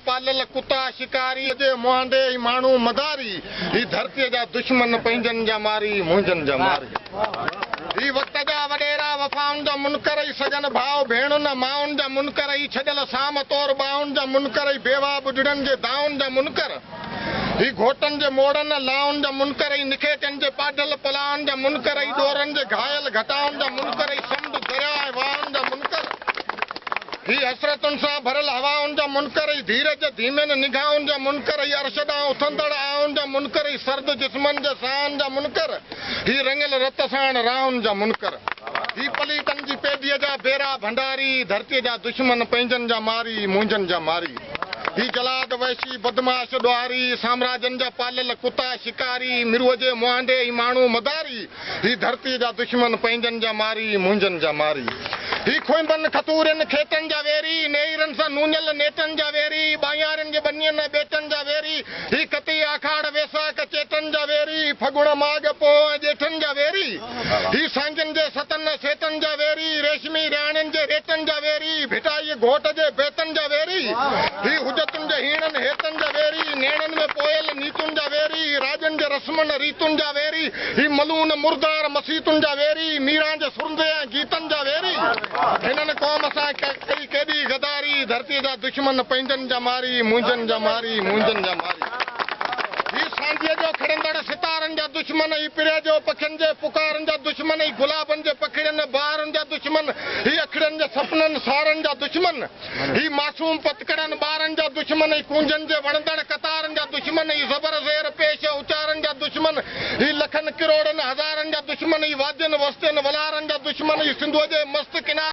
پاليل ڪتا شڪاري. ڪجي مهانڊي ۽ ماڻهو مداري. هي ڌرتيء جا دشمن پنهنجن جا ماري، منهنجن جا ماري. هي وقت جا وڏيرا وفائن جا منڪر اي سڄن ڀاء ڀيڻن ۽ مائن جا منڪر اي ڇڏيل سام طور ٻانهن جا منڪر اي بيواهه ٻڍڙن جي دانهن جا منڪر. هي گهوٽن جي موڙن، لائن جا منڪر ۽ نکيڪين جي پاڍل پلاهن جا منڪر ۽ ڏورن جي گهايل گهٽائن جا منڪر ۽ سمنڊ، درياء ۽ واهن جا منڪر. هي حسرتن سان ڀريل هوائن جا منڪر ۽ ڌيرج جي ڌيمين نگاهن جا منڪر ۽ عرش ڏانهن اٿندڙ آهن جا منڪر ۽ سرد جسمن جي ساهن جا منڪر. هي رڱيل رت ساڻ راهن جا منڪر. هي پليتن جي پيڌيء جا بيرا ڀنڊاري، ڌرتيء جا دشمن، پنهنجن جا ماري، منهنجن جا ماري. هي جلاد، وحشي، بدمعاش، ڏوهاري، سامراجن جا پاليل ڪتا، شڪاري، مروجي، مهانڊي ۽ ماڻهو مداري، هي ڌرتيء جا دشمن، پنهنجن جا ماري، منهنجن جا ماري، هي کونبن، کٿورين، کيٽن جا ويري، نيئرن سان نونيل نيٽن جا ويري، ٻانهيارين جي ٻنين ۽ ٻيٽن جا ويري، هي ڪتي، آکاڙ، ويساک، چيٽن جا ويري، هي ڦڳڻ، ماڳ، پوهه ۽ ڄيٺن جا ويري. هي سانگين جي ستن ۽ سيتن جا ويري، ريشمي رياڻين جي ريٽن جا ويري، ڀٽائيء گهوٽ جي بيتن جا ويري، هي حجتن جي هيڻن هيتن جا ويري، نيڻن ۾ پوئيل نيتن جا ويري، هي راڄن جي رسمن ريتن جا ويري، هي ملون مردار مسيتن جا ويري، ميران جي سرندي ۽ گيتن جا ويري، هنن قوم سان ڪئي ڪيڏي غداري، ڌرتيء جا دشمن پنهنجن جا ماري، منهنجن جا ماري، منهنجن جا ماري، هي سانجهيء جو کڙندڙ ستارن جا دشمن، پريا جو پکين جي پڪارن جا دشمن هي گلابن جي پکڙين ۽ بهارن جا دشمن هي اکڙين جي سپنن سارن جا دشمن هي معصوم پتڪڙن ٻارن جا دشمن هي ڪونجن جي وڻندڙ قطارن جا دشمن هي زبر زير پيش اچارن جا دشمن هي لکن ڪروڙن هزارن جا دشمن هي وادين وستين ولارن جا دشمن هي سنڌوء جي مست ڪنارن